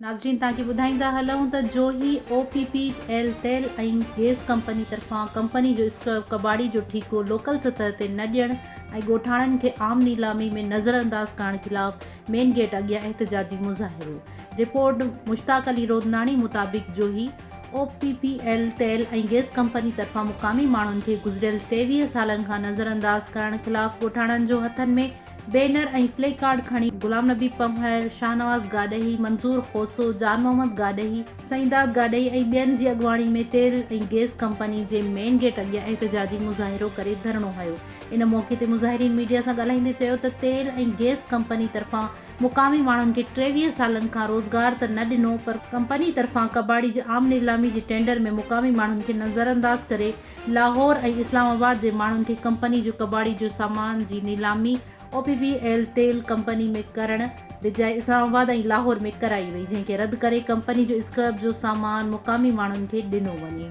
ناظرين توهان کي ٻڌائيندا هلون ته Johi O P P L تيل ۽ گيس ڪمپني طرفان ڪمپني جو اسڪرب ڪٻاڙي جو ٺيڪو لوڪل سطح تي نه ڏيڻ ۽ ڳوٺاڻن کي عام نيلامي ۾ نظر انداز ڪرڻ خلاف مين گيٽ اڳيان احتجاجي مظاهرو رپورٽ مشتاق علي رودناڻي مطابق Johi O P P L تيل ۽ گئس ڪمپني طرفان مقامي ماڻهن کي گذريل ٽيويهه سالن کان نظرانداز ڪرڻ خلاف ڳوٺاڻن جو هٿن ۾ بينر ۽ پلي ڪارڊ کڻي غلام نبي پنهور، شاهنواز گاڏهي، منظور کوسو، جان محمد گاڏهي، سائينداد گاڏهي ۽ ٻين جي اڳواڻي ۾ تيل ۽ گئس ڪمپني جي مين گيٽ اڳيان احتجاجي مظاهرو ڪري ڌرڻو هنيو. ان موقعي تي مظاهرين ميڊيا سان ڳالهائيندي چيو ته تيل ۽ گئس ڪمپني طرفان مقامي ماڻهن کي ٽيويهه سالن کان روزگار ته نه ڏنو پر ڪمپني طرفان ڪٻاڙي جي عام نيلامي جي ٽينڊر ۾ مقامي ماڻهن کي نظرانداز ڪري لاهور ۽ اسلام آباد جي ماڻهن کي ڪمپني جو ڪٻاڙي جو سامان جي نيلامي او پي پي ايل تيل ڪمپني ۾ ڪرڻ بجاء اسلام آباد ۽ لاهور ۾ ڪرائي وئي جنهن کي رد ڪري ڪمپني جو اسڪرپ جو سامان مقامي ماڻهن کي ڏنو وڃي.